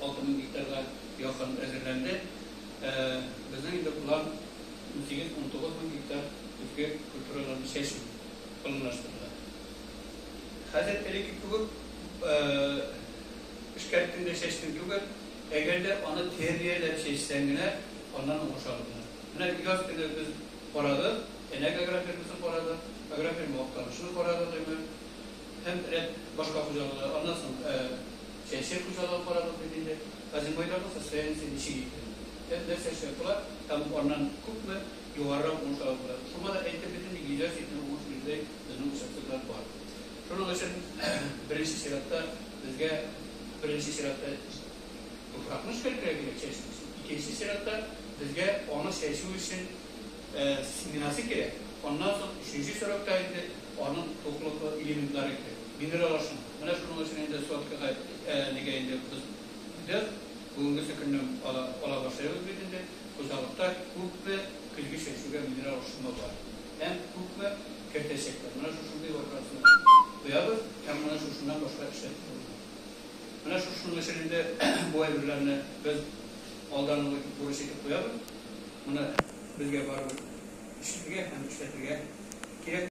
Алты мең гектарга якын әзерләнде. Безнең инде план унсигез-унтугыз мең гектар көзге культураларны чәчү планлаштырыла. Хәзер элекке кебек эшкәрттең дә чәчтең түгел, әгәр дә аны тәрбияләп чәчсәң генә, аннан уңыш алына. Менә яз көне без карадык, Әнәк агрофирмасын карадык, агрофирма Актанышны карадык инде һәм рәт башка хуҗалыклар, аннан соң Сәяси хуҗалыгы карабыз бит инде. Хәзер байларның состояниесе ничек икән? Без нәрсә эшләп була һәм аннан күпме югарырак уңыш алып була? Шуңа да әйтеп бетми, йөзләр чикмә уңыш бирүдәй безнең участоклар бар. Шуның өчен беренче чиратта безгә беренче чиратта туфракны эшкәртергә кирәк, чәчү өчен. Икенче чиратта безгә аны чәчү өчен Сменасы кирәк. Аннан соң өченче срокта инде аның туклык элементлары керә. Минерал ашын. Менә шуның өчен инде сотка нигә инде без дәү бүгенгесе көннән ала башлыйбыз бит инде. Хуҗалыкта күпме көзге чәчүгә минерал ашны бар һәм күпме кертәчәкләр. Менә шушындый вакыасына куябыз һәм менә шушыннан башка эшләтеп булмый. Менә шушының өчен инде бу әйберләрне без алдан ук бурыч итеп куябыз. Моны безгә барыбер эшләргә һәм эшләтергә кирәк.